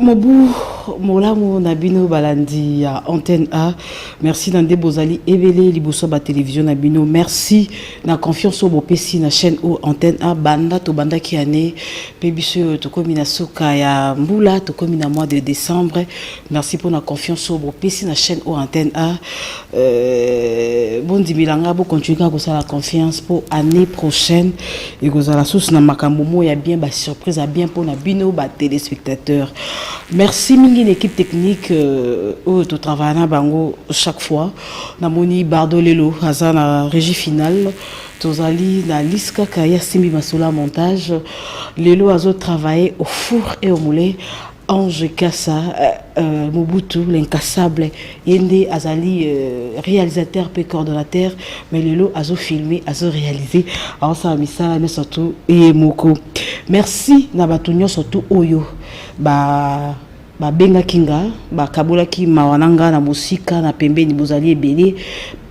mobu molamu na bino balandi ya antenne a merci na nde bozali ebele liboso ba télévision na bino merci na confiance oyo bopesi na chaîne oyo antenne a banda tobandaki ane mpe biso oyo tokómi na suka ya mbula tokómi na mois de décembre Merci pour la confiance au beau PC la chaîne au antenne A. Euh, bon dimilanga pour continuer à vous la confiance pour année prochaine et vous la source na makambo ya bien ba surprise à bien pour na bino ba téléspectateurs. Merci mingi l'équipe technique euh, au tout travail na bango chaque fois. Na moni Bardolelo Hazana régie finale tozali na lise kaka ya simbi masolo ya montage lelo azotravaille au four et au moulin Ange Kassa euh, euh, Mobutu l'incassable ye nde azali euh, réalisateur mpe coordonnateur mais lelo azo filme azo réalise aosala misala nyonso tu ye moko merci na bato nyonso tu oyo ba babengaki nga bakabolaki mawa na nga na mosika na pembeni bozali ebele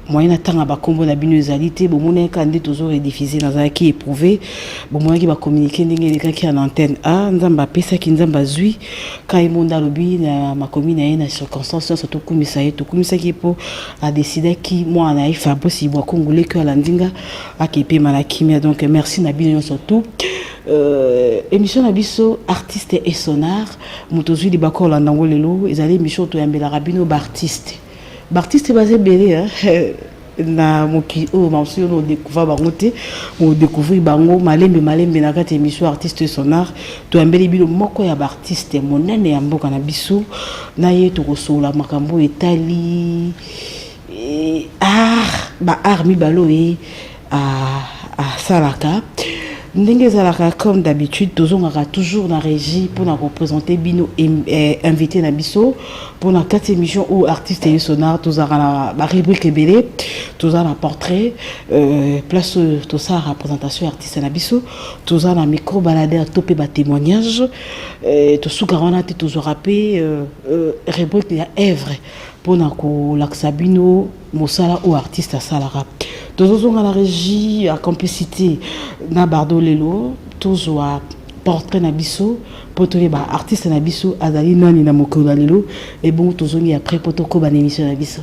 moyen natanga bakombo na bino ezali te bomonaki kaka nde tozo rediffuser nazalaki éprouvé bomonaki bacommunike ndenge elekaki na antenne a nzambe apesaki nzambe azwi ka ye monde alobi na makomi na ye na circonstance nyonso tokumisa ye tokumisaki ye mpo adesidaki mwana na ye fabrice ibwa kongoleki alandi nga ake epema na kimia donc merci na bino nyonso tout Euh, émission na biso artiste et sonar moto ozwi libaka olanda yango lelo ezali émission toyambelaka bino baartiste Ba artistes baza ebele hein na mokili oyo ba mosusu o decouvrir bango te o decouvrir bango malembe malembe na kati emission artiste et son art toyambeli bino moko ya ba artistes monene ya mboka na biso na ye tokosolola makambo oyo etali art ba art mibale oyo ye asalaka ndenge ezalaka comme d'habitude tozongaka toujours na régie mpo na kopresente bino eh, invité na biso mpo na kati émission oyo artiste ye sonar tozalaka na barubrike ebele toza na portrait euh, place oyo tosalaka présentation ya artiste na biso toza na micro baladere to mpe batémoignage euh, tosuka wana te tozwaka mpe euh, rubrike ya evre mpo na kolakisa bino mosala oyo artiste asalaka tozozonga na régie ya complicité na bardo lelo tozwa portrait na biso mpo toyeba artiste na biso azali nani na mokolo ya lelo ebongo tozongi après mpo tokoba na émission na biso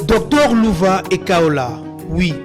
Docteur Louva et Kaola, oui,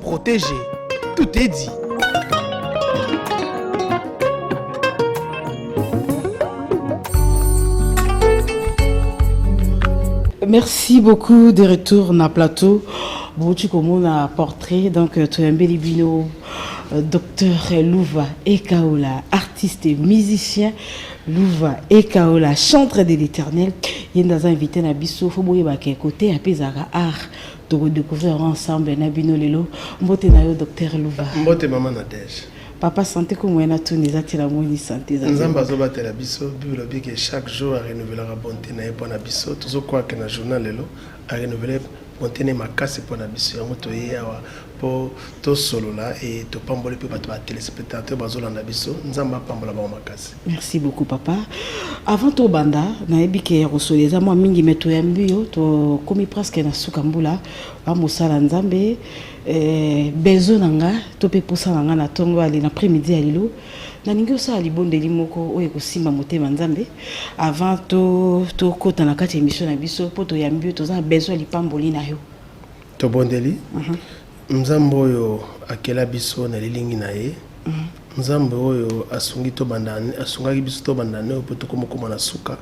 protégé tout est dit merci beaucoup de retour na plateau bouti komona portrait donc euh, toyambeli bino euh, docteur louva ekaola artiste musicien louva ekaola chantre de l'éternel ye nde aza invité na biso fo boyebaka kote ape ezalaka art Toko découvrir yango ensemble na bino lelo. Mbote na yo docteur Luba. Mbote mama Nadège. Papa santé ko moyen atuni eza ti na moni santé eza. Nzambe azobatela biso Bible olobi ke chaque jour a renouvelaka bonté na ye mpo na biso tozo croire ke na journal lelo a renouveler bonté na ye makasi mpo na biso yango toye awa po to solola et to pamboli pe bato ba telespectateurs bazo landa biso nzambe apambola bango makasi. Merci beaucoup papa. Avant to banda na yebi ke ya kosolo eza mwa mingi mais to yambi yo to komi presque na suka mbula ba mosala nzambe eh, besoin na nga to pe posa na nga na tongo ali na après midi ya lelo nalingi osala libondeli moko oyo ekosimba motema nzambe avant to tokota na kati ya emission na biso po toyambi yo toza na besoin ya lipamboli na yo. Tobondeli. Nzambe oyo akela biso na elilingi na ye, Nzambe oyo asungi tobanda, asungaki biso tobanda na oyo mpo tokomi kokoma na suka,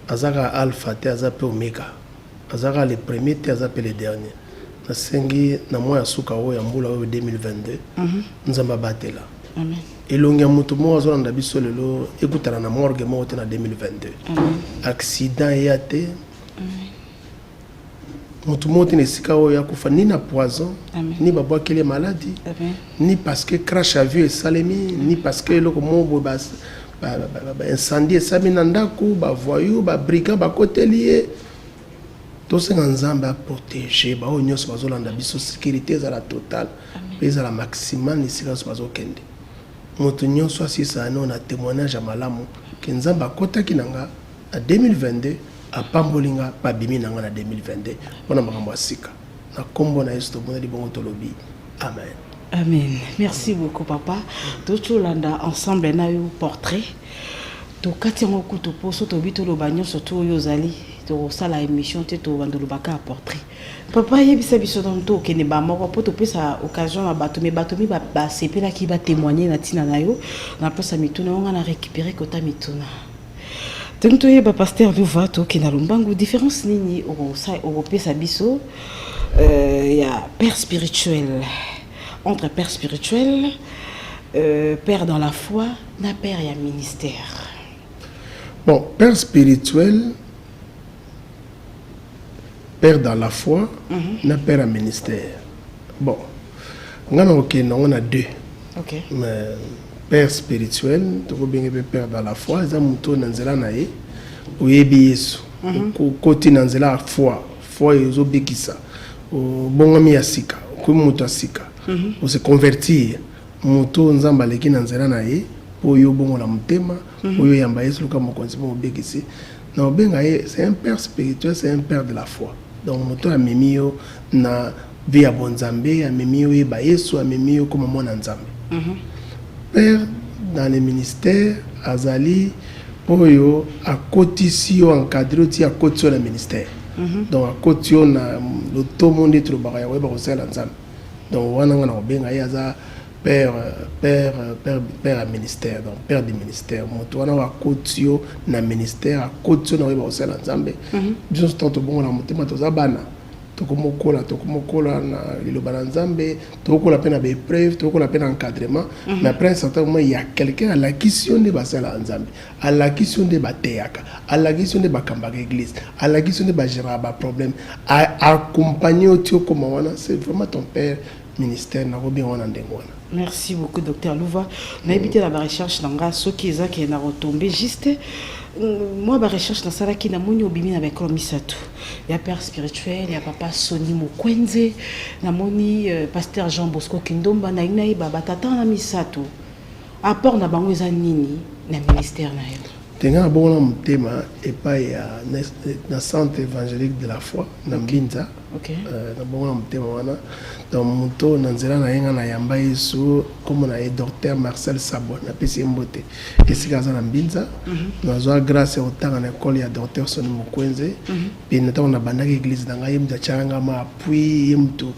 aza kaka Alpha te, aza mpe Omega, aza kaka le premier te, aza mpe le dernier. Nasengi na mois ya suka oyo ya mbula oyo 2022, Nzambe abatela Amen. elongi ya moto moko azolanda biso lelo ekutana na morgue moko te na 2022. Accident eya te, moto moko te na esika oyo akufa ni na poison ni babwakeli ye maladi ni parce que crash ya vie esalemi ni parce que eloko moko boye ba, ba, ba, ba, ba incendie esalemi na ndako bavoyou babrigand bakoteli ye tosenga nzambe aprotege baoyo nyonso bazolanda biso sécurité ezala totale mpe ezala maximale na esika nyonso bazokende moto nyonso asisa yango na témoignage ya malamu ke nzambe akotaki na nga Na 2022 apamboli nga mpe abimi na nga na 2022 mpo na makambo ya sika. Na nkombo na Yesu tobondeli bongo tolobi amen. Amen. Merci beaucoup papa. Tocholanda ensemble na yo portrait. Tokati yango kutu mpo so tobi toloba nyonso tu oyo ozali tokosala émission te tobanda olobaka ya portrait papa ayebisa biso donc tokende bamoko mpo topesa occasion na bato me bato mi basepelaki batémoigne na ntina na yo napesa mituna yango ngai na récupéré kota mituna Toni toyeba pasteur Luva toke na lombangu différence nini okopesa biso euh, ya père spirituel entre père spirituel euh, père dans la foi na père ya ministère bon père spirituel père dans la foi mm -hmm. na père ya ministère bon nga na kokende yango na deux okay. mais père spirituel tokobenge mpe père dans la foi eza moto oyo na nzela na ye oyebi yesu mm -hmm. okoti na nzela ya foi foi ezobikisa obongami ya sika okomi moto ya sika mm -hmm. ose convertir moto nzambe aleki na nzela na ye mpo yo obongola motema mpo mhm. yo oyamba yesu loka mokonzi mpo mobikisi na obenga ye c'est un père spirituel c'est un père de la foi donc moto amemi yo na vie ya bonzambe amemi yo yeba yesu amemi yo koma mwana nzambe mhm. père dans le ministère azali oyo akotisi yo encadre oti akotisi yo na ministère mhm. donc akoti yo na lotomo nde tolobaka ya koyeba kosalela nzambe donc wana nga na kobenga ye aza père père père père ya ministère donc père du ministère moto wana oyo akoti yo na ministère akoti yo na oyeba kosala nzambe mhm. biso nyonso ntango tobongo na motema toza bana tokomokola tokomokola na liloba na nzambe tokokola mpe na baepreuve tokokola mpe na encadrement mhm. mais après un certain moment ya quelqu'un alakisi yo nde basala ya nzambe alakisi yo nde bateyaka alakisi yo nde bakambaka église alakisi yo nde bagéraka baproblème accompagne yo ti okoma wana c'est vraiment ton père ministère nakobenga wana ndenge wana merci beaucoup docteur louva nayebi te na barecherche na nga soki eza ke na retombe juste mm, mwa barecherche nasalaki namoni obimi na baekolo misato ya père spirituel ya papa soni mokwenze namoni euh, pasteur jean bosco kindomba nalingi nayeba batata wana misato apport na bango eza nini na ministère na yo tenga abongona motema epai ya na centre évangélique de la foi na mbinza Okay. Euh, na bongo na motema wana donc moto oyo na nzela na ye ngai nayamba yesu nkombo na ye docteur marcel sabon napesi ye mbote esika aza na mbinza mhm. nazwa grâce ya kotanga na ekole ya docteur soni mokwenze mhm. mpe na ntango nabandaki église na ngai ye moto atyaka ngai ma appui ye moto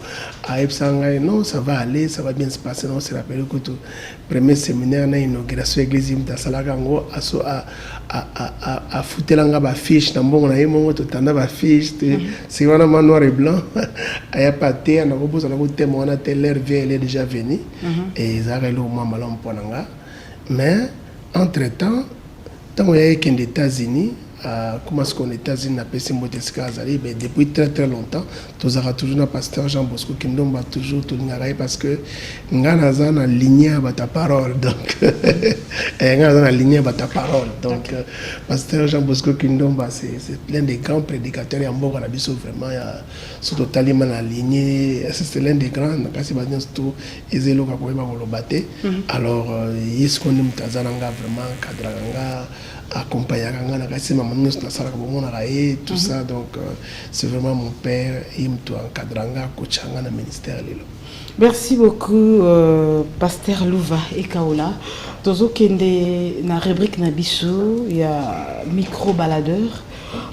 ayebisaka ngai non ça va aller ça va bien se passer non se rappele kutu premier seminaire na inauguration ya eglise mutu asalaka yango aso afutela nga bafiche na mbongo na ye mongo totanda bafiche te mhm. se wana ma noir et blanc aya pa teya nakobosana kotema wana te l'air vient elle est déjà venu mhm. ezalaka eloko mwa malamu mpo na nga mais entre temps Tango ya ye kende Etats-Unis, uh, commence qu'on Etats-Unis na pesi mbote sika azali, mais depuis très très longtemps tozaka toujours na pasteur Jean Bosco Kindomba toujours tolingaka ye parce que nga naza na ligne ya bata parole donc eh, nga naza na ligne ya bata parole donc euh, pasteur Jean Bosco Kindomba c'est c'est l'un des grands prédicateurs ya mboka na biso vraiment ya soto talima na ligne c'est l'un des grands na kasi ba nyonso tout eza eloko ya koyeba koloba te alors euh, ye sikoyo nde moto aza na nga vraiment akadraka nga accompagnaka nga na kasi mama nyonso nasalaka bomonaka ye tout ça donc euh, c'est vraiment mon père ye moto ankadra nga akotya nga na ministère lelo merci beaucoup euh, pasteur luva ekaola tozokende na rubrique na biso ya micro baladeur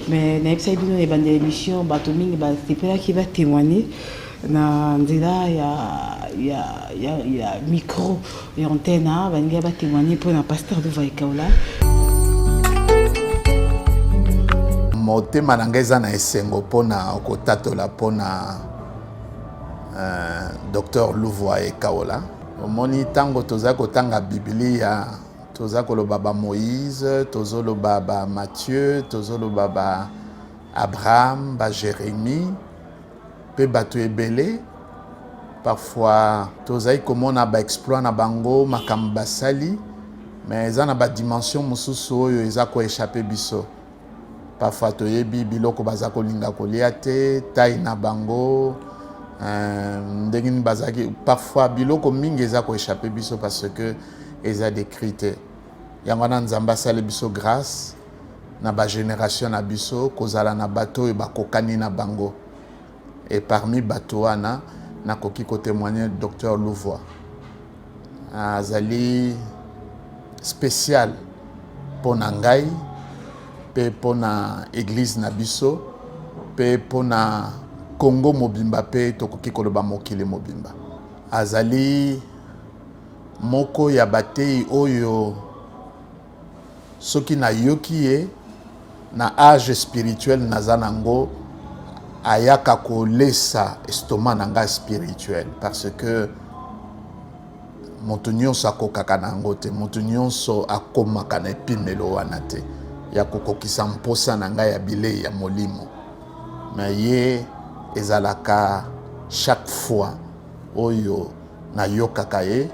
mais nayebisaki bino na ebandela émission bato mingi basepelaki batémoigne na nzela ya, ya, ya, ya micro ya antenne ah, balingi batémoigne mpo na pasteur duva ekaola motema na ngai eza na esengo mpo na kotatola mpo na uh, eh, docteur luvua ekaola omoni ntango tozali kotanga bibilia toza koloba ba moïse tozoloba ba mathieu tozoloba ba abraham ba jérémie pe batu ebele parfois tozali komona ba exploit na bango makambo basali mais eza na ba dimension mosusu oyo eza ko echappe biso parfois toyebi biloko baza kolinga kolia te tai na bango euh, ndenge nini bazalaki parfois biloko mingi eza ko echappe biso parce que eza décrit te yango wana nzambe asali biso grâce na ba generation na biso kozala na bato oyo bakokani na bango et parmi bato wana nakoki kotemoigne docteur Luvua azali spécial mpo na ngai mpe mpo na eglize na biso mpe mpo na Congo mobimba mpe tokoki koloba mokili mobimba azali moko ya bateyi oyo soki na yoki ye na age spirituel naza na ngo ayaka ko lesa estomac na nga spirituel parce que moto nyonso akokaka na yango te moto nyonso akomaka na epimelo wana te ya kokokisa mposa na ngai ya bilei ya molimo na ye ezalaka chaque fois oyo nayokaka ye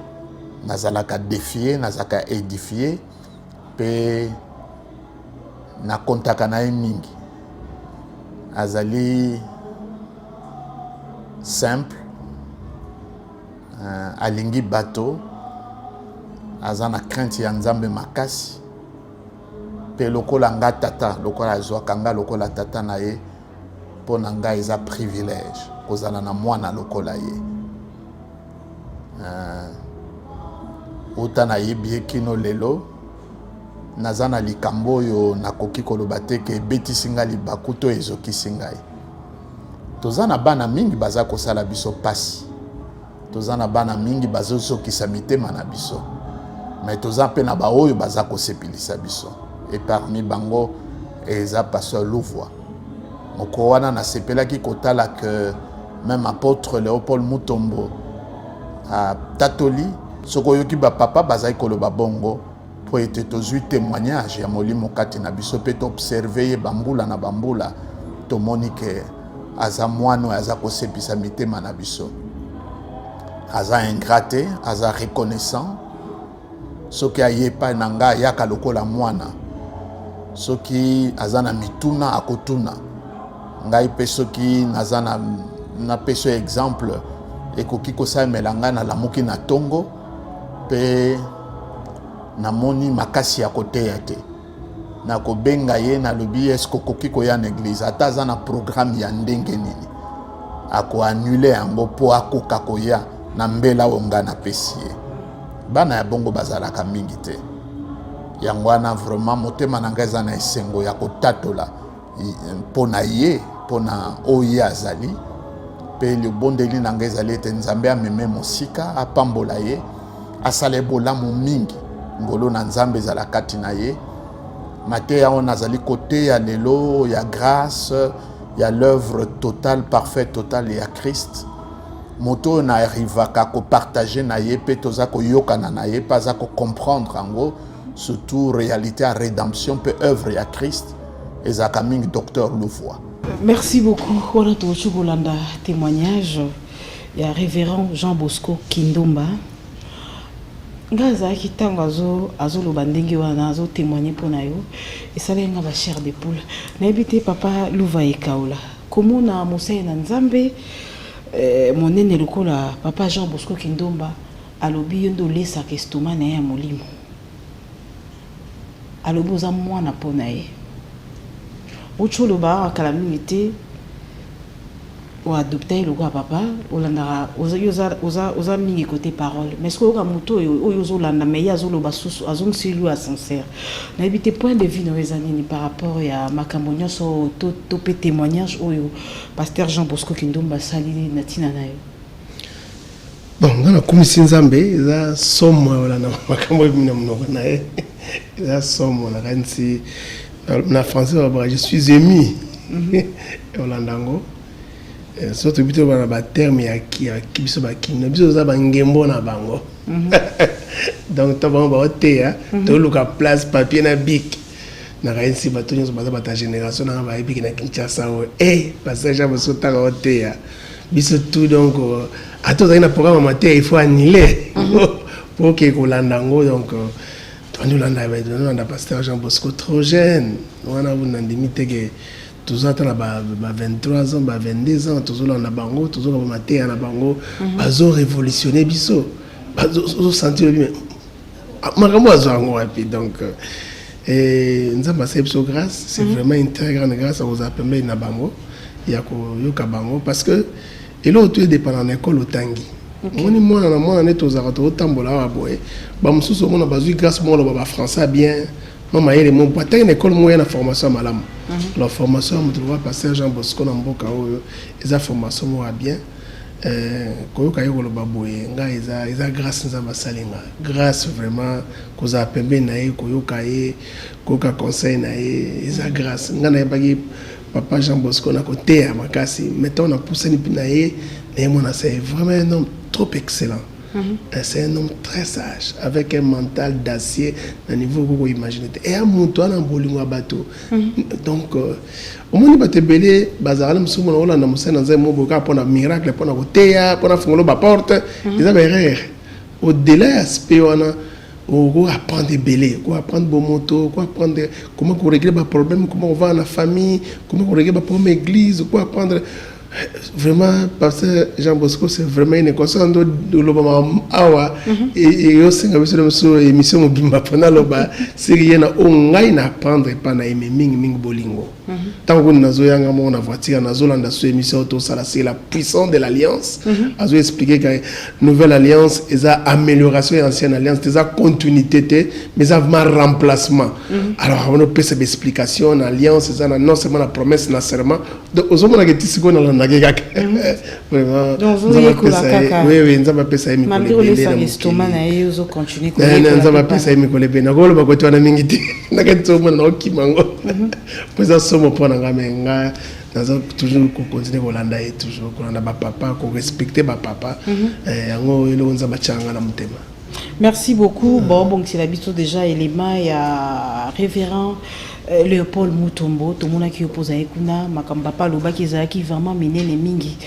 nazalaka defie nazalaka edifie mpe nakontaka na ye mingi azali simple uh, alingi bato aza na crainte ya nzambe makasi mpe lokola nga tata lokola azwaka nga lokola tata na ye mpo na ngai eza privilège kozala na mwana lokola ye uh, uta nayebi ye kino lelo naza na likambo oyo nakoki koloba te ke ebetisi ngai libaku to ezokisi ngai toza na bana mingi baza kosala biso mpasi toza na bana mingi bazozokisa mitema na biso me toza mpe na baoyo baza kosepelisa biso e parmi bango eza pasteur luvua moko wana nasepelaki kotala ke meme apôtre léopold mutombo atatoli soki oyoki bapapa bazali koloba bongo mpo ete tozwi temoignage ya molimo kati na biso mpe toobserve ye bambula na bambula tomoni ke aza mwana oyo aza kosepisa mitema na biso aza ingrat te aza reconnaissant soki aye epai na ngai ayaka lokola mwana soki aza na mituna akotuna ngai mpe soki naza na napeso exemple ekoki kosalemela ngai nalamuki na ntongo mpe namoni makasi ya koteya te nakobenga ye nalobi eske okoki koya na eglize ata aza na programme ya ndenge nini akoanule yango mpo akoka koya na mbela oyo ngai napesi ye bana ya bongo bazalaka mingi te yango wana vraiment motema na ngai eza na esengo ya kotatola mpo na ye mpo na oyo ye azali mpe libondeli na ngai ezali ete nzambe ameme mosika apambola ye asala bolamu mingi ngolo na nzambe ezala kati na ye mateya oyo nazali koteya lelo ya grâce ya l'œuvre totale parfaite totale ya christ moto oyo naarrivaka kopartage na ye mpe toza koyokana na ye mpe aza kocomprendre yango surtout réalité ya rédemption mpe œuvre ya christ ezalaka mingi docteur luvua merci beaucoup wana tokoki kolanda témoignage ya révérend jean bosco kindumba ngai azalaki ntango azoloba ndenge wana azotémoigne mpo na yo esalaki nga bachaire de poule nayebi te papa luva ekaola komona mosali na nzambe eh, monene lokola papa jean bosco kindumba alobi yo nde olesaka estoma na ye ya molimo Alobi oza mwana po na ye. Otsho oloba awa kala mingi te o adopta ye lokola papa olandaka oza, oza, oza, oza mingi kote parole mais soki oyoka moto oyo oyo ozolanda mais ye azoloba susu azongiseli yo ascenseur nayebi te point de vue na yo eza nini par rapport ya makambo nyonso oyo to, to mpe témoignage oyo pasteur jean bosco kindumba asali na ntina na yo Bon, nga nakumisi Nzambe eza somo wala na makambo ebimi na monoko na ye eza somo nakanisi na français balobaka je suis ému mhm. olanda yango eh, so toyebi te bana baterme ya biso bakino biso toza bangembo na bango mhm. donc to bango baoteya mhm. toluka place papier na bik nakanisi bato nyonso baza bata génération nanga bayebiki na kinshasa oyo e eh, passage ya boso ntango oteya biso tout donc euh, ata ozali na programme ya mateya il faut annule mpo oke kolanda yango donc euh, toandi olanda olanda pasteur jean bosco trop jeune wana bo nandimi te ke toza ata na ba 23 ans ba 22 ans tozolanda bango tozoka ba mateya na bango mhm. bazo révolutionne biso bazosentir Ah, makambo azwa yango wapi donc eh, nzambe asali biso grâce c'est mhm. vraiment une très grande grâce akozala pembeni na bango ya koyoka bango parce que eloko to edepana na ekole otangi omoni mwana na mwana nde tozalaka tozotambola awa boye bamosusu omona bazwi grâce moko loba bafrançais bien mwa mayele mo mpo ataki na ekole moko ya na formation ya malamu mhm. alors formation ya moto loba pasteur jean bosco na mboka oyo eza formation moko ya bien Eh, koyoka ye koloba boye ngai eza eza grâce nzambe asali nga grâce vraiment kozala pembeni na ye koyoka ye koyoka conseil na ye eza grâce ngai nayebaki papa jean bosco na koteya makasi mais ntango napusani mpe na ye na ye mwana se vraiment un homme trop excellent Mm -hmm. C'est un homme très sage, avec un mental d'acier, na niveau que vous imaginez. Et un mouton en bolingo à bateau. donc euh, omoni bato ebele bazalaka na mosusu mona olanda mosali na nzai moboye kaka mpona miracle mpona koteya mpona fongolo baporte mhm. eza baerreur au-delà ya aspect wana oko apprendre ebele oko apprendre bomoto oko apprendre comment koregle baproblème comment kovanda na famille comment koregle baproblème église oko apprendre vraiment pasteur jean bosco c'est vraiment une conscience ndo olobama awa mhm. eyosenga biso na biso émission mobimba mpo naloba siri ye na oyo ngai na apprendre epa na yeme mingi mingi bolingo ntango mhm. kuni nazoyanga moko na voiture nazolanda so émission oyo tosala c'est la puissance de l'alliance mhm. azo expliquer ka nouvelle alliance eza amélioration ya ancienne alliance te eza continuité te mais eza vraiment remplacement alors abana opesa baexplication na alliance eza na non seulement na promesse na serment donc ozomonaka eti sikoyo nalandaka ye kaka vraimentwewe nzambe apesa ye mikolonzambe apesa ye mikolo ebele nakoloba kote wana mingi te nakati omona naokima yango mhm. po eza somo mpo na ngai me ngai naza toujours kokontinue kolanda ye toujours kolanda bapapa korespecte bapapa mhm. eh, yango eloko nzambe atyaka ngai na motema Merci beaucoup. Euh. Bon, bon, c'est l'habitude déjà élément ya révérend euh, Léopold Mutombo, tout le monde qui oppose à Ekuna, Makamba Paloba qui est vraiment miné les mingi.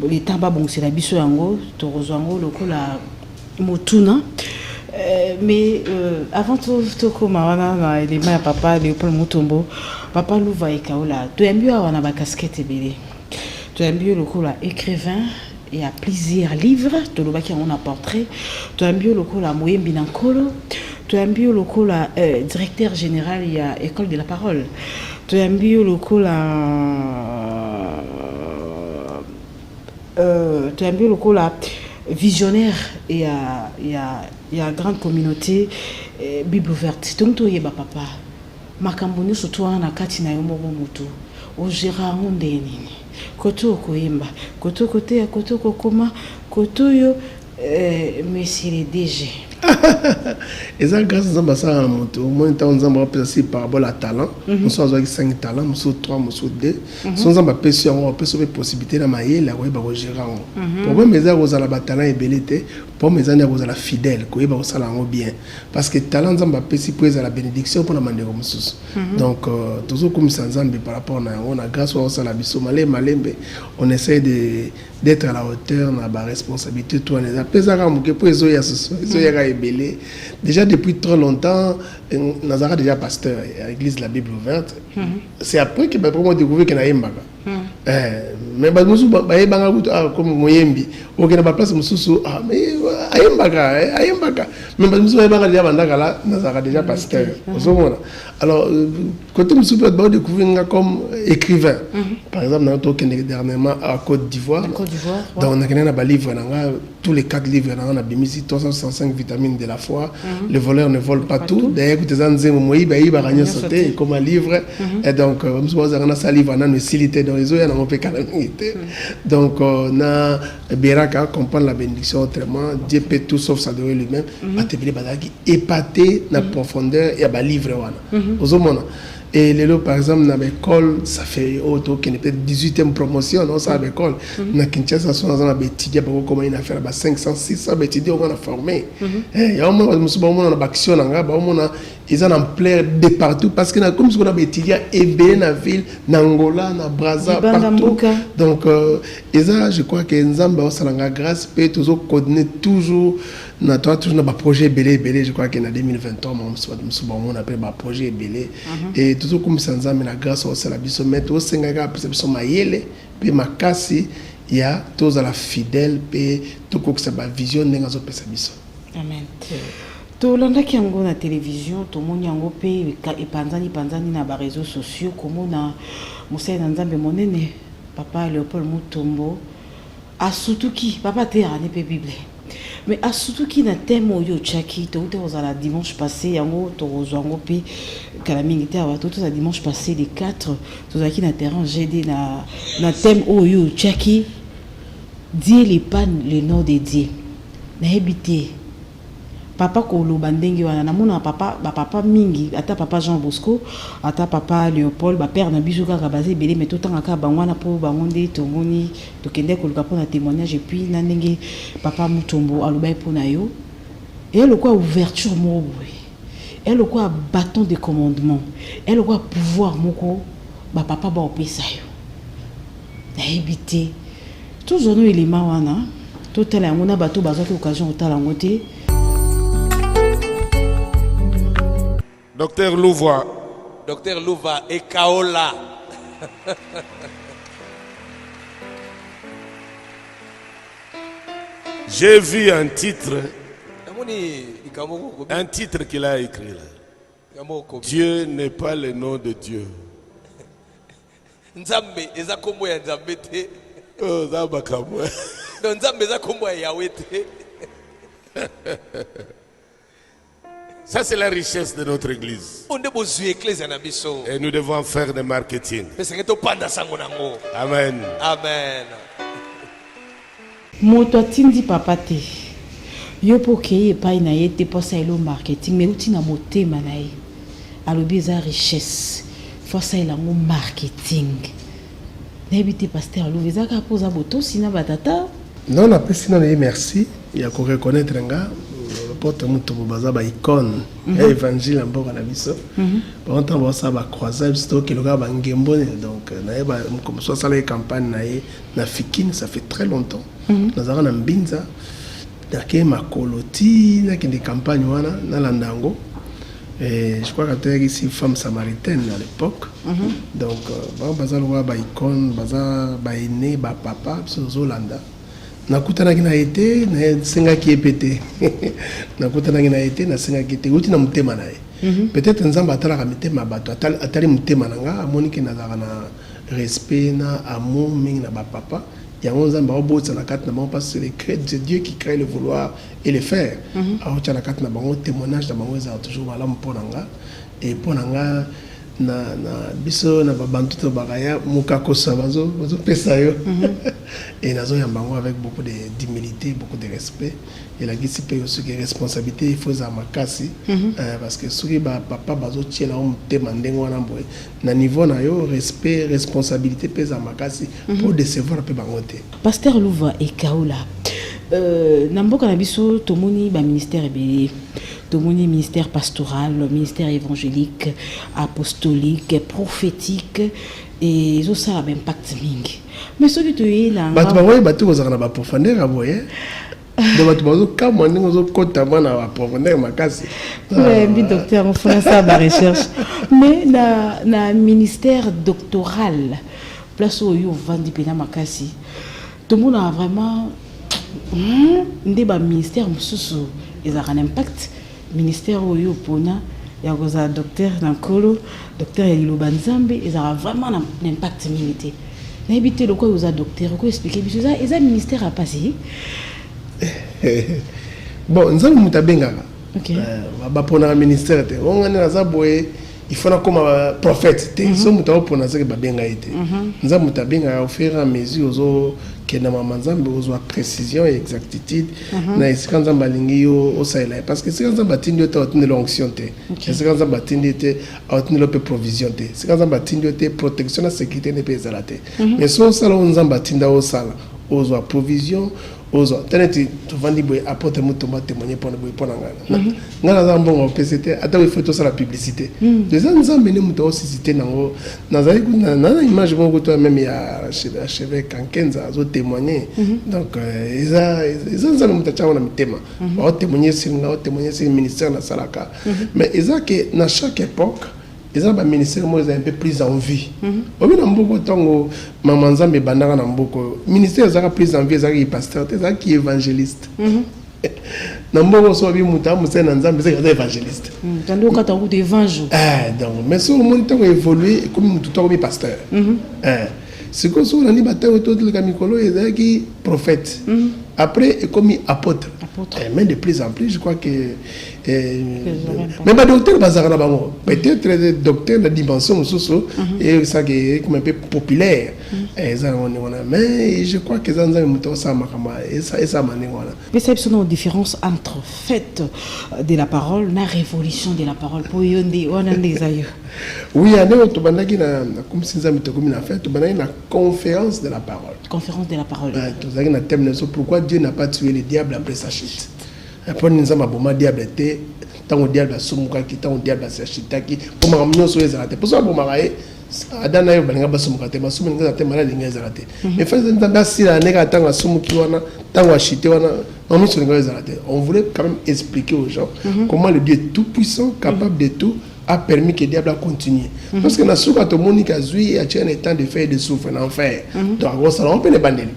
Les tamba bon, c'est l'habitude yango, Torozango, lokola Motuna. Euh, mais euh, avant tout, tout comme wana élément ya papa Léopold Mutombo, papa Louva et Kaola, tu aimes bien avoir na casquette belé. toyambi yo lokola écrivain ya plusieurs livres tolobaki yango na portrait toyambi yo lokola moyembi na nkolo toyambi yo lokola euh, directeur général ya école de la parole toyambi yo lokola euh, toyambi yo lokola visionnaire ya, ya, ya grande communauté eh, bible ouverte tongi toyeba papa Makambo nioso to wana na kati nayo moko mutu o gera yango ndenge nini? Kote oko yemba, kote oko teya, kote oko koma, kote oyo eh monsieur le DG. Eza grace nzambe asala na moto omoni ntango nzambe apesa si parabole ya talent mhm. mosusu azwaki 5 talent mosusu 3 mosusu 2 mhm. so nzambe apesi yango apesi mpe possibilité na mayele akoyeba kogere yango mhm. problème eza kozala batalent ebele te Pome eza nde kozala fidèle, koyeba kosala yango bien parce que talent Nzambe apesi mpo ezala benediction mpo na bandeko mosusu. Mm -hmm. Donc euh, tozokumisa Nzambe par rapport na yango na grâce oyo osala biso male malembe, on essaie de d'être à la hauteur na ba responsabilité to wana eza pesa kaka moke mpo ezoya soso ezoya kaka ebele déjà depuis trop longtemps nazalaka déjà pasteur ya église la bible ouverte. Mm -hmm. C'est après que bato moko découvrir que nayembaka mais bato mosusu bayebanga kutu ah, comme moyembi okenda baplace mosusu ah, ayembaka eh, ayembaka mais bato mosusu bayebanga deja bandaka la nazalaka déjà mm, pasteur ozomona alors euh, côté mosusu bato baodecouvrir nga comme écrivain mm-hmm. par exemple nayo tokendeke dernièrement à côte d'ivoire donc nakendaki na balivre na nga tous les quatre livres na nga nabimisi 365 vitamines de la foi mhm. le voleur ne vole pas tout d'ailleurs kuta eza nzembo moyibi ayibaka nyonso te ekoma livre mhm. et donc euh, mosusu bazanga na sa livre nano esili te donc ezoya nango mpe kala mingi te mhm. donc euh, na beraka comprendre la bénédiction autrement dieu peut tout sauf sa dewe lui-même bato ebele bazalaki épaté na profondeur ya balivre wana ozomona Et lelo par exemple na l'école ça fait oh to kende peut 18e promotion non ça à l'école mhm. na Kinshasa son dans na betidia ba comment il a fait ba 500 600 betidia on a formé mhm. eh ya mo musu ba mo na baction na ba mo na ils en ampleur de partout parce que na comme ce qu'on a betidia ebe na ville na Angola na Brazza partout donc euh, et ça je crois que Nzamba salanga grâce peut toujours coordonner toujours na toa toujours na baprojet ebele ebele je crois ke na 2023 bango mosusu bato mosusu bamona mpe baprojet ebele mhm. e tozokumisa nzambe na grâce osala biso mai tosengaki apesa biso mayele mpe makasi ya tozala fidèle mpe tokokisa bavision ndenge azopesa biso amen tolandaki yango na televizio tomoni yango mpe epanzani panzani na bareseau sociaux komona mosali na nzambe monene papa léopold mutombo asutuki papa ateyaka ne mpe bible mais asutuki na teme oyo otyaki touta kozala dimanche passé yango tokozwa yango mpe kala mingi te awa touta dimanche passé le 4 tozalaki na terrain gd na, na teme oyo otyaki die le pan le nom de die nayebi te papa koloba ndenge wana namonaka papa bapapa mingi ata papa jean bosco ata papa léopold bapere na biso kaka baza ebele me totanga kaka bango wana mpo bango nde tomoni Tokendeki koluka mpo na temoignage epuis na ndenge papa Mutombo alobaki mpo na yo eya lokola ouverture moko boye, eya lokola baton de commandement, eya lokola pouvoir moko ba papa baopesa yo nayebi te. Tozwa no elema wana totala yango na bato bazwaki occasion kotala yango te. Docteur Luvua. Docteur Luva ekaola. J'ai vu un titre, Namoni likambo moko okobi- un titre qu'il a écrit là. likambo moko okobi. Dieu n'est pas le nom de Dieu. Nzambe eza kombo ya Nzambe te. Oh, za makambo. Donc Nzambe eza kombo ya Yahweh te. Ça, c'est la richesse de notre église. Et nous devons faire des marketing. Amen. Amen. moto atindi papa te yo mpo okei epai na ye te mpo asalelo marketing me euti na motema na ye alobi eza richesse fo asalela yango marketing nayebi te pasteur alobi eza kaka mpo oza botosi na batata non napesi nano ye merci ya koreconnaitre nga lopoto motobo baza baicone mhm. ya évangile ya mboka na biso mhm. bango ntango baosala bacroisage biso tokelokaka bangembo donc naye moko mosusu asalaki campagne na ye na fikine ça fait très longtemps mhm. nazalaka na mbinza nake makolo ti nakende campagne wana nalanda yango je crois kateyakisi femme samaritaine à l'époque Mhm. donc euh, bango baza lokola baicone baza baene bapapa biso tozolanda nakutanaki na ye te nasengaki ye mpe te nakutanaki na ye te nasengaki ye te euti na motema na ye mhm. peut-être nzambe atalaka mitema ya bato atali motema na nga amoniki nazalaka na respect na amour mingi na bapapa yango nzambe aobotisa na kati na bango parce que le crête c'est dieu qui crée le vouloir et le faire mhm. aotya na kati na bango témoignage na bango ezala toujours malamu mpo na nga Et mpo na nga na, na biso na babantu tobaka ya mokakosa bazopesa yo mhm. e nazoyamba yango avec beaucoup de d'humilité beaucoup de respect elakisi mpe soki responsabilité il faut ezala makasi mhm. euh, parce que soki bapapa bazotyela yo motema ndenge wana boye na niveau na yo respect responsabilité mpe ezala makasi mpo mhm. decevoir mpe bango te Pasteur Louva et Kaola. Euh, na mboka na biso tomoni ba ministère ebele tomoni ministère pastoral ministère évangélique apostolique prophétique ezosala baimpact mingi mais soki toyei na bato bango bato kozalaka na baprofanere ya boye nde bato bazokamwa ndenge ozokota bana ba profondeur makasi bi docteur mofuna sa ba recherche mais na, na ministère doctoral place oyo ovandi mpena makasi tomonaka vraiment hmm, nde baministère mosusu ezalaka na impact Ministère oyo opona ya kozala docteur na nkolo docteur ya liloba nzambe ezalaka vraiment na impact mingi te nayebi te lokola oza docteur oko explike biso eza, eza ministère ya mpasi bon nzambe moto abengaka okay. uh, baponaka ministère te onga nde naza boye il faut nakoma prophète te so moto aopona seke babenga ye te nzambe moto abengaka au fur et à mesure ozokenda mama nzambe ozwa précision ya exactitude na esika nzambe alingi yo osalela ye parce que esika nzambe atindi yo te aotindela onction te esika nzambe atindi ye te aotindela mpe provision te esika nzambe atindi yo te protection na sécurité nde mpe ezala te mais so osala oyo nzambe atinda osala ozwa provision ozo ata neti tovandi boye apotre mutombo atemoigne mpona boye mpo na ngai mhm. ngai naza mbongo opesi te ata oyo ifai tosala publicité mhm. eza nzambe nde moto aosisite nango nazali kuna naza image moko kutu meme ya cheve kankenza azotemoigne mhm. donc euh, eza eza nzambe moto atyango na mitema baotemoigne esili nga otemoigne esili ministère nasalaka mais eza ke na chaque époque eza ba ministère moko eza un peu plus en vie obi na mboka ntango mama nzambe ebandaka na mboka oyo ministère ezalaka plus en vie ezalaki pasteur te ezalaki évangéliste mhm. eh, na mboka oso obi moto amosali na nzambe ezaki aza évangéliste hmm, tandi okata kutu évangel eh, donc mais soki omoni ntango évolue ekomi motu to akomi pasteur mhm. eh, sikoyo soki olandi batango toteleka mikolo oyo ezalaki prophète mhm. après ekomi apôtre mais de plus en plus je crois que Eh, mais ba docteur bazalaka na bango peut-être eh, docteur na dimension mosusu mhm. esaki eh, ekoma mpe populaire mhm. eza nango ndenge wana mais je crois que eza nzambe moto osala makambo esalama ndenge wana pesa biso na différence entre fête de la parole na révolution de la parole mpo yo nde wana nde eza yo oui ya ndenge tobandaki na nakomisi nzambe tokomi na fête tobandaki na conférence de la parole conférence de la parole tozalaki na thème na biso pourquoi dieu n'a pas tué le diable après sa chute Mpo nini Nzambe aboma diable te ntango diable asumukaki, ntango diable asiachitaki? Mpo makambo nyonso oyo ezala te, mpo soki abomaka ye ada na yo balinga basumuka te masumu elingi eza te mala elingi ezala te mhm. mais fasi nzambe asila na ndenge ntango asumuki wana ntango achite wana makambo nyonso elingi ezala te on voulait quand même expliquer aux gens mhm. comment le dieu est tout puissant capable mhm. de tout a permis que diable a continué parce que na suka tomoni kazwi atie na état de fait de souffre na enfer donc akosala ngo mpe na ebandeli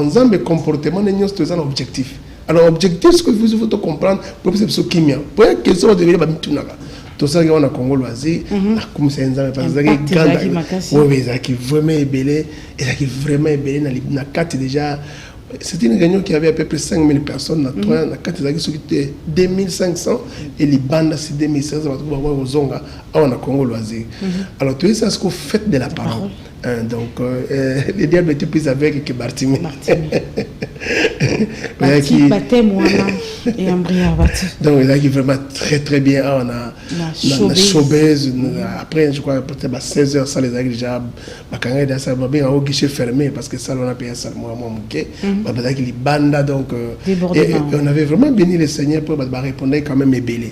nzambe comportement ne nyonso toza na objectif Alors objectif ce que vous devez to comprendre pour que biso kimia. Pour que question ba devele ba mitunaka. To sala ngona Congo loisir, mhm. na kumisa nzanga parce que zaki ganda. Oui mais zaki vraiment ebele, et zaki vraiment ebele na na carte déjà c'était une réunion qui avait à peu près 5000 personnes na trois mhm. na carte zaki soki te 2500 et les bandes c'est 2500 ba ko zonga awa na Congo loisir. Mhm. Alors tu sais ce qu'on fait de la parole. Ah Hein, donc, euh, euh, le diable était plus aveugle que Bartimée. Bartimée. baptême wana eyambriya bati donc ezalaki vraiment très très bien awa na showbase après je crois peut-être ba 16 heures sala ezalaki déjà bakangaki da sala babenga yango guichet fermé parce que sala wana mpe ya sala mwa mwa moke bazalaki libanda donc euh, et, et on avait vraiment béni le seigneur mpo bato barépondaki quand même ebele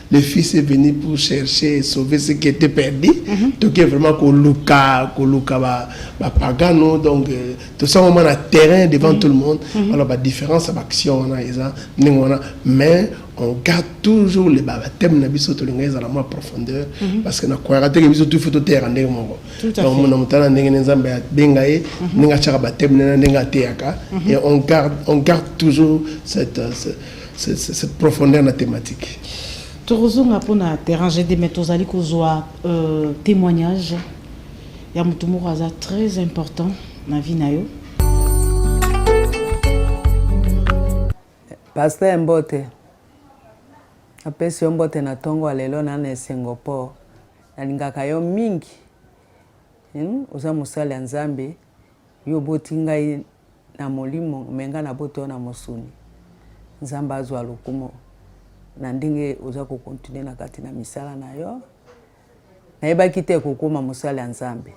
le fils est venu pour chercher et sauver ce qui était perdu mm -hmm. toke vraiment koluka koluka bapagano ba donc euh, tosala vraiment na terrain devant mm -hmm. tout le monde mm -hmm. alors badifférence ya baaction wana eza ndenge wana mais on garde toujours le bathème na biso tolinga ezala mwa profondeur mm -hmm. parce que nakoyaka teke biso tu faut toteyaka ndenge moko donc mona motala ndenge ne nzambe abenga ye mhm. ndenge atyaka bathème nena ndenge ateyaka mhm. et on garde, on garde toujours cette, euh, cette cette profondeur na thématique tokozonga mpona terrain gd mais tozali kozwa euh, témoignage ya motu moko aza très important na vie na yo paster mbote apesi yo mbote na ntongo ya lelo na na esengo mpo nalingaka yo mingi hmm? oza mosali ya nzambe Yo oboti ngai na molimo mais ngai naboti yo na mosuni. Nzambe azwa lokumo na ndenge oza ko continuer na kati na misala na yo. Nayebaki te kokoma mosali ya Nzambe.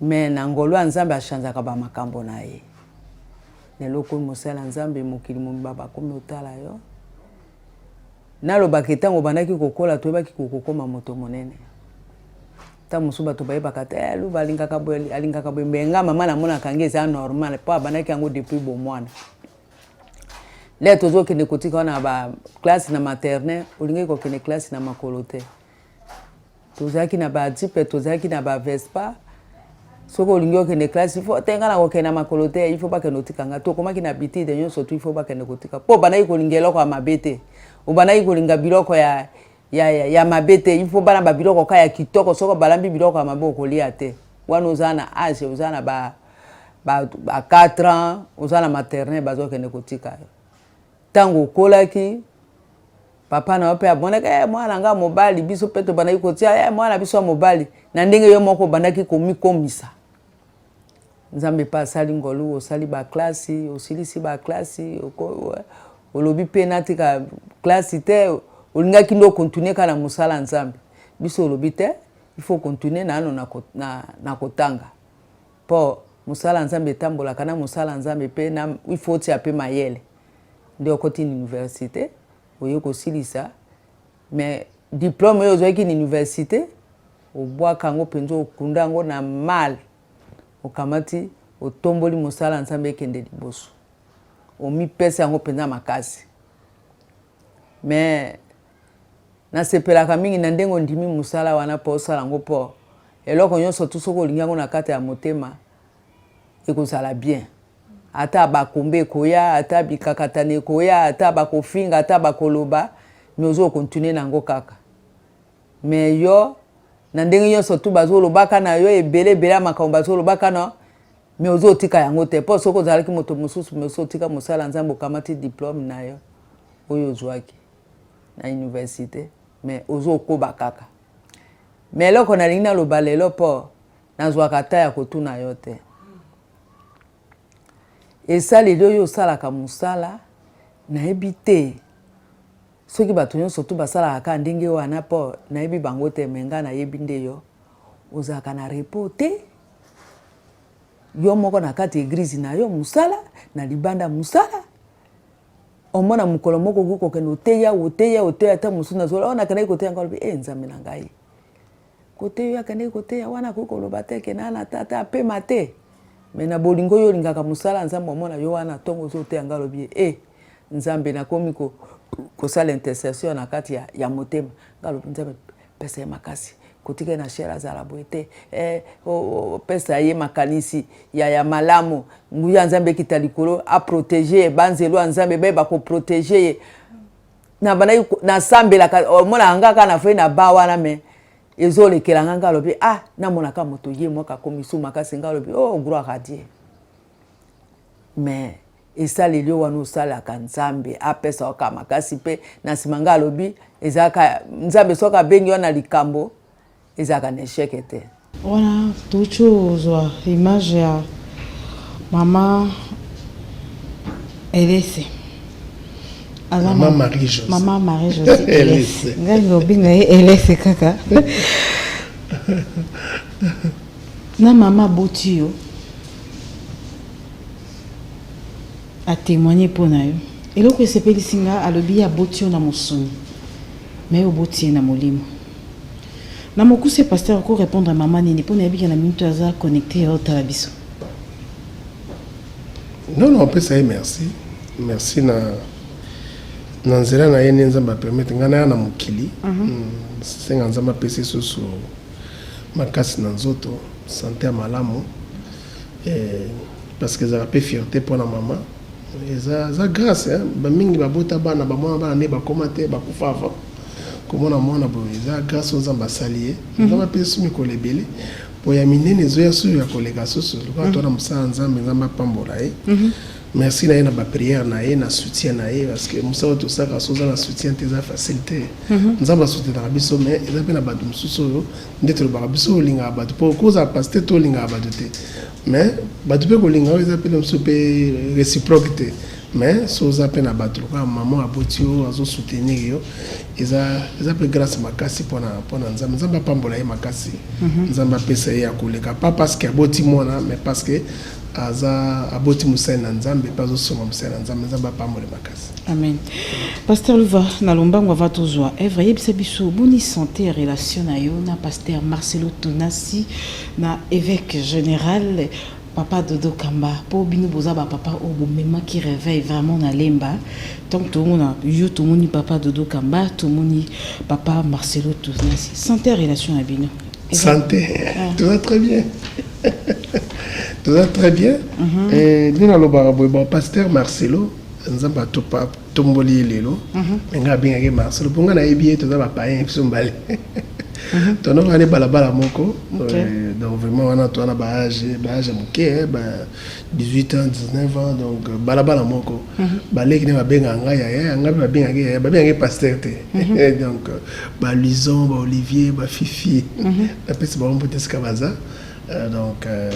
Mais na ngolo ya Nzambe achanzaka ba makambo na ye. Lelo okomi mosali ya Nzambe mokili mobimba bakomi otala yo. Nalobaki ntango obandaki kokola toyebaki kokokoma moto monene. ntango mosusu bato bayebaka te eh, luba alingaka boye alingaka boye mbe nga mama namonaka yango eza normal mpo abandaki yango depuis bomwana le tozokende kotika wana baklasse na maternel olingaki kokende klasse na makolo te tozalaki na bajipe tozalaki na bavespa soki olingi okende klasse ifo te nga na kokende na makolo te ifo bakende kotika nga tokomaki na bitide nyonso tu ifo bakende kotika mpo obandaki kolinga eloko ya mabe te obandaki kolinga biloko ya ya, ya, ya mabe te il faut bana ba biloko ka ya kitoko soko balambi biloko ya mabe okolia te wana oza na age oza na ba ba, ba 4 ans oza na materne bazokende kotika yo ntango okolaki papa na yo mpe amonaki hey, eh, mwana nga mobali biso mpe tobandaki kotia hey, eh, mwana biso ya mobali na ndenge yo moko obandaki komikomisa Nzambe pe asali ngolu osali ba classe osilisi ba classe olobi pe natika classe te olingaki nde okontinue kaka na mosala ya nzambe biso olobi te il faut okontinue naano na kotanga mpo mosala ya nzambe etambolaka na mosala ya nzambe mpe na il faut otia mpe mayele nde okoti na université oye kosilisa Mais diplome oyo ozwaki na universite obwaka yango mpenza, okunda yango na mal, okamati otomboli mosala Nzambe ekende liboso, omipesa yango mpenza makasi. Mais nasepelaka mingi na ndenge ondimi mosala wana mpo osala yango mpo eloko nyonso tu soki olingi yango na kati ya motema ekozala bien ata bakomba ekoya ata bikakatana ekoya ata bakofinga ata bakoloba me ozokontinue na yango kaka me yo na ndenge nyonso tu bazolobaka na yo ebele ebele ya makambo bazolobaka na me ozotika yango te mpo soki ozalaki moto mosusu me osotika mosala nzambe okamati diplome na yo oyo ozwaki na université me ozokoba kaka me eloko nalingi naloba lelo mpo nazwaka ata ya kotuna yo te esaleli oyo osalaka mosala nayebi te soki bato nyonso tu basalaka kaka ndenge wana mpo nayebi bango te me ngai nayebi nde yo ozalaka na repo te yo moko na kati eglize na yo mosala na libanda mosala omona mokolo moko okoki kokende oteya oteya oteya ata mosusu nazoloa nakendaki koteya ngai olobi e eh, nzambe na ngai kote yo akendeki koteya wana akoki koloba te ke naa na tata apema te me na bolingo yo olingaka mosala ya nzambe omona yo wana ntongo ozoteya ngai alobi ye e eh, nzambe nakomi ko, kosala intercession na kati ya, ya motema ngai alobi nzambe pesa ye makasi kotika ye na shere azala boye te eh, opesa ye makanisi ya, ya malamu nguya nzambe ekita likolo aprotege ye banzelu ya nzambe bayeba koprotege ye na bandaki nasambelaka omonaka nga kaka na fai na ba wana me ezolekela nga nga alobi ah namonaka moto ye mwaka komisu makasi nga alobi o oh, gloire a dieu me esaleli yo wana osalaka nzambe apesa oka makasi mpe na nsima nga alobi ezalaka nzambe soki abengi yo na likambo ezalaka na echec te. Wana touti ozwa image ya mama Elese aza mama Marie Jose, mama Marie Jose Elese, ngai nobinga ye Elese kaka na mama aboti yo atemoigne mpo na yo eloko esepelisi nga alobi ye aboti yo na mosuni Mais yo oboti ye na molimo? Na mokuse pasteur oko repondre maman nini pona yebike na minute aza connecte yo tala biso. Non non pesa ye merci. Merci na na nzela na ye nde nzambe apermete ngai naya na mokili mhm. mm, senga nzambe apesi susu makasi na nzoto sante ya malamu eh, parce que ezalaka mpe fierté mpo na mama eza, eza grâce hein? bamingi babota bana bamwana bana nde bakoma te bakufa avant komona mwana boye eza grâce oyo nzambe asali ye mhm. nzambe apesi mikolo ebele mpo ya minene ezoya susu ya koleka susu lokola mhm. to na mosala nzambe nzambe apambola ye mhm. merci na ye na bapriere na ye na soutien na ye parce que mosala oyo tosaka so oza na soutien te eza facile te nzambe asoutenaka biso mais eza mpe na bato mosusu oyo nde tolobaka biso olingaka bato mpo kozala mpasi te to olingaka bato te mais bato mpe kolinga oyo eza mpe mosusu mpe réciproque te mais so oza mpe na bato lokola mama aboti yo azosoutenir yo eza eza mpe grâce makasi mpona mpona nzambe nzambe apambola ye makasi mhm. nzambe apesa ye ya koleka pas parce que aboti mwana mais parce que aza aboti mosali na nzambe mpe azosoma mosali na nzambe nzambe apambole makasi Amen. Pasteur Luva, na lombango ava tozwa evre yebisa biso boni santé ya relation na yo na pasteur Marcelo Tunasi na évêque général papa Dodo Kamba po bino boza ba papa oyo bomemaki réveil vraiment na lemba donc tomona yo tomoni papa Dodo Kamba tomoni papa Marcelo Tunasi santé ya relation na bino santé ah. toza très bien toza très bien mm -hmm. et nde nalobaka boye ba pasteur Marcelo nzambe atomboli ye lelo mhm. me ngai abengaki marcelo mpo ngai nayebi ye toza bapayen biso mbale mhm. tonokaka nde balabala moko euh, donc vraiment wana toza na baage baage ya moke ba 18 ans 19 ans donc euh, balabala moko mhm. baleki nde babengaka ngai yaya ngai mpe babengaki yaya babengaki paster te donc euh, baluison baolivier bafifi napesi bango mpo te esika baza Euh, donc euh,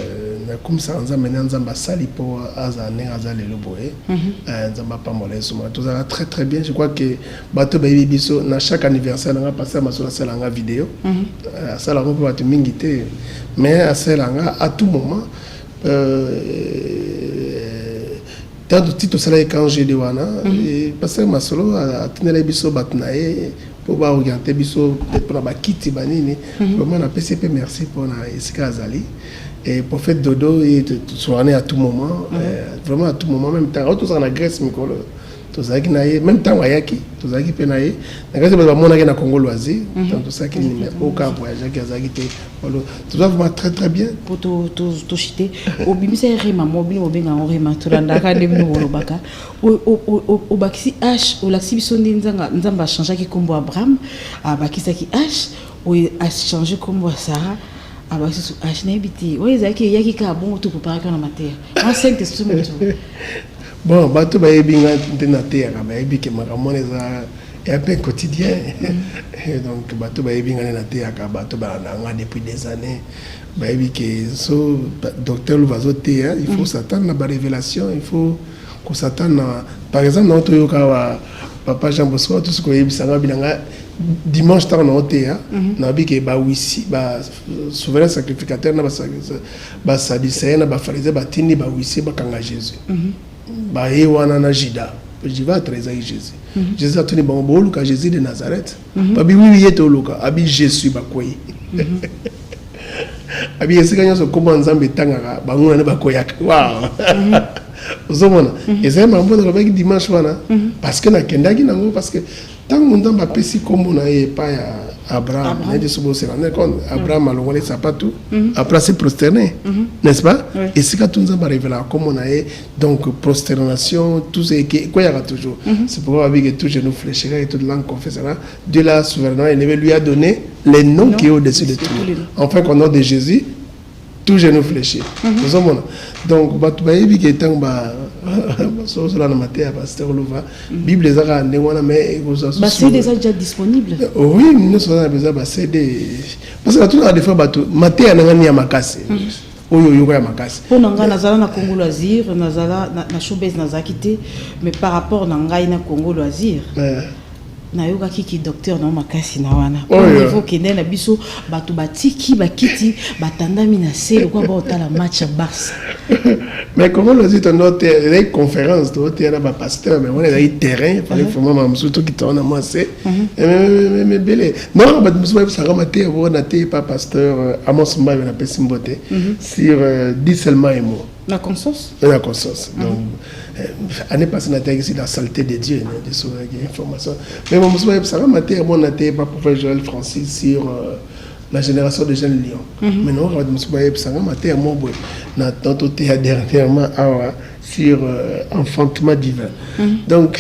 nakumisaka nzambe na nzambe asali mpo azala ndenge aza lelo boye mhm. euh, nzambe apambola ye suma tozalaka très très bien je crois que bato bayebi biso na chaque anniversaire nanga pasteur masolo asala nga video mhm. asala yango mpe bato mingi te mais asala nga à tout moment ntango ti tosalaki cangede wana mhm. pasteur masolo atinelaki biso bato na ye po ba orienter biso peut-être pona ba kiti ba nini mhm. vraiment na pesi pe merci pona esika azali et prophète Dodo ye tosolani à tout moment mhm. euh, vraiment à tout moment même temps tozalaka na Grèce mikolo tozalaki na ye même ntango ayaki tozalaki mpe na ye na kasi bato bamonaki na congo loisir mhm. ntango tosalaki nini mais oka voyageaki azalaki te toza vraiment très très bien mpo toshite obimisa ye rema mobini bobenga yango rema tolandaka nde bino bolobaka Obakisi H, olakisi biso nde nzanga Nzambe a changeaki kombo Abraham, abakisaki H, oye a change kombo ya Sarah, abakisi su H, nayebi te, oyo ezalaki eyaki kaka bongo to preparaki na mateya. Mwa sainte esprit moto. Bon, bato bayebi nga nde nateyaka, bayebi ke makambo wana eza ya mpe quotidien. Mm. Donc bato bayebi nga nde nateyaka, bato balanda nga depuis des années. Bayebi ke so docteur Luva azoteya, il faut mm. s'attendre na ba révélation, il faut ko satana par exemple na oto yoka wa papa Jean Bosco tout ce ko yebisa nga bilanga dimanche tard na ote ya mhm. na bi ke ba wisi ba souverain sacrificateur na ba ba sadissayen na ba pharisien ba tindi ba wisi ba kanga Jésus mhm. ba ye wana na Judas je vais à Jésus mhm. Jésus a tuni bango boluka Jésus de Nazareth Mhm. Babi oui ye toloka abi je suis bakwei. Mhm. Abi esika nyonso kombo ya Nzambe etangaka banguna nde bakweyaka. Waaw. Mhm. ozomona ezali makambo oyo nalobaki dimanche wana parce que nakendaki nango parce que ntango nzambe apesi nkombo na ye epai ya abraham nayete soki bosela ne compte abraham alongoli sapatu après se prosterne n'est ce pas esika tu nzambe arevelaka nkombo na ye Donc, prosternation, tout ce qui est, quoi, il y aura toujours. Mm -hmm. C'est pourquoi, avec tout genou fléchira et toute langue confessera, Dieu l'a souverainement élevé, lui a donné les noms non, qui est au-dessus de tout. Enfin, qu'au nom de Jésus, tout genou fléchit. Mm -hmm. Nous sommes Donc, bah, tu vas y aller, tant que basosola na mateya pasteur lova mm. bible eza kaka ndenge wana mais bacd eza déjà disponible euh, oui nyonso wana mpenza bacd parce que natunaka defois bato mateya na ngani ya makasi mm. oyo oyoka ya makasi mpo na ngai nazala na congo loisir nazala na showbase nazalaki te mais par rapport na ngai na congo loisir eh. nayokaki ki docteur na makasi na wana oyo okende na biso bato batiki bakiti batandami na se lokola baotala match ya barça mais congo loisir tondo ezali conférence tooteya na bapasteur mais wana ezali terrain fale vraiment mamosusu tokita wana mwase ebele Non, bato mosusu bayebisaka mateya mpo na te pa pasteur euh, Amos Mbayo napesi mbote mhm. sur euh, dit seulement un mot. La conscience euh, La conscience. Mhm. Donc, année passée nateyakisi la saleté de Dieu desolaki information mais ba mosusu bayebisaka mateya mpo na te pa prophète Joël Francis sur la génération de jeunes lions. Mhm. Mais non, bato mosusu bayebisaka mateya moko boye na toteya dernièrement awa sur euh, enfantement divin mm -hmm. donc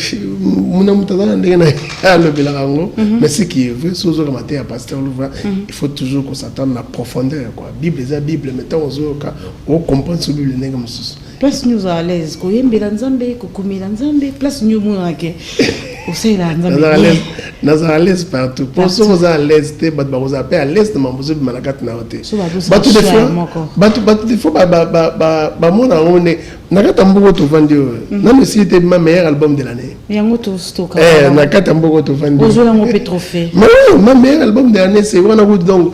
muna moto aza na ndenge na alobelaka yango mm -hmm. mais ce qui est vrai sozoka mateya ya pasteur louva mm -hmm. il faut toujours kosatana na profondeur quoi bible eza bible mais ntango ozoyoka ocomprendre so bible ndenge mosusu place nyonso à l'aise koyembela nzambe kokomela nzambe place nyonso omonaka nazala à l'aise partout mpo soki oza à l'aise te bato bakozala mpe à l'aise na mambo ozobima na kati na yo te bato des fois bamona yango nde na kati ya mboko tovandi oyo mhm. nano esili te ma meilleur album de l'année yango tostoka eh, na kati ya mboko tovandi ozwela yango mpe trophée ma meilleur album de l'année se wana kutu donc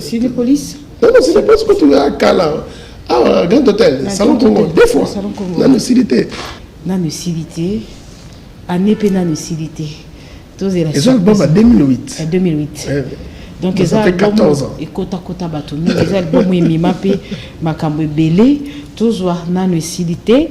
Sini police. Non, non, c'est parce que tu as Kala. Ah, Grand Hôtel, Salon Congo, deux fois. Salon Congo. Nanu silité. Nanu silité. Année pe nanu silité. tozela eza album ya 2008 ya 2008 eh, donc eza album ekotakota bato mingi eza album emema mpe makambo ebele tozwa nano esili te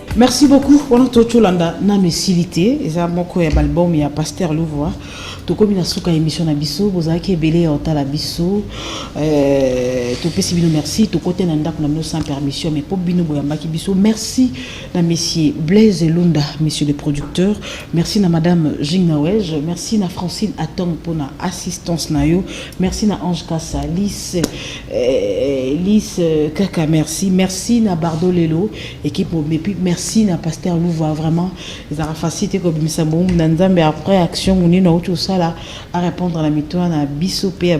Merci beaucoup. Wana tocholanda na mesili te eza moko ya balbum ya Pasteur Louvois. Tokomi na suka emission na biso, bozalaki ebele ya otala biso. Euh, topesi bino merci, tokote na ndako na bino sans permission mais po bino boyambaki biso. Merci na monsieur Blaise Lunda, monsieur le producteur. Merci na madame Jingna Wej, merci na Francine Atong pona assistance na yo. Merci na Ange Kassa, Lise, Elise kaka merci merci na bardo lelo equipe omepi merci na pasteur louva vraiment ezalaka facile te kobimisa boumbu na nzambe après action monene auti osala arépondre na mituna na biso mpe ya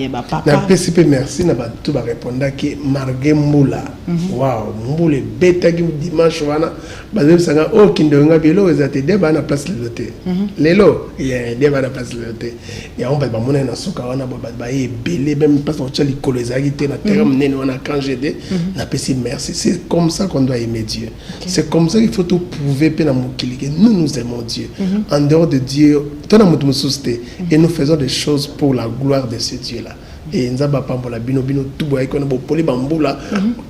bapapa napesi mpe merci na bato barépondaki marge mbula mhm. wow mbula ebetaki dimanche wana Bazebisa nga o oh, kindoyo nga bielo eza te deba na place lelo te mhm. lelo ye deba na place lelo te yango bato bamonani na suka wana bo bato baye ebele meme place na kotya likolo ezalaki te na terrain mhm. monene wana quand j'ai dit mhm. napesi merci c'est comme ça qu'on doit aimer Dieu c'est comme ça qu'il faut tout prouver mpe na mokili que nous nous aimons Dieu en dehors de Dieu to na moto mosusu te et nous faisons des choses pour la gloire de ce Dieu là et nzambe apambola bino bino tu boyaki wana bopoli bambula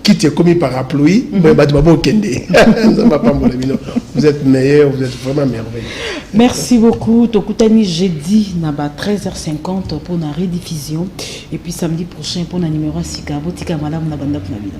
kiti ekomi parapluie mhm. boye bato babokende nzambe apambola bino vous êtes meilleur vous êtes vraiment merveilleux merci beaucoup tokutani jeudi na ba 13h50 mpona rediffusion et puis samedi prochain mpona numéro ya sika botika malamu na bandako na bino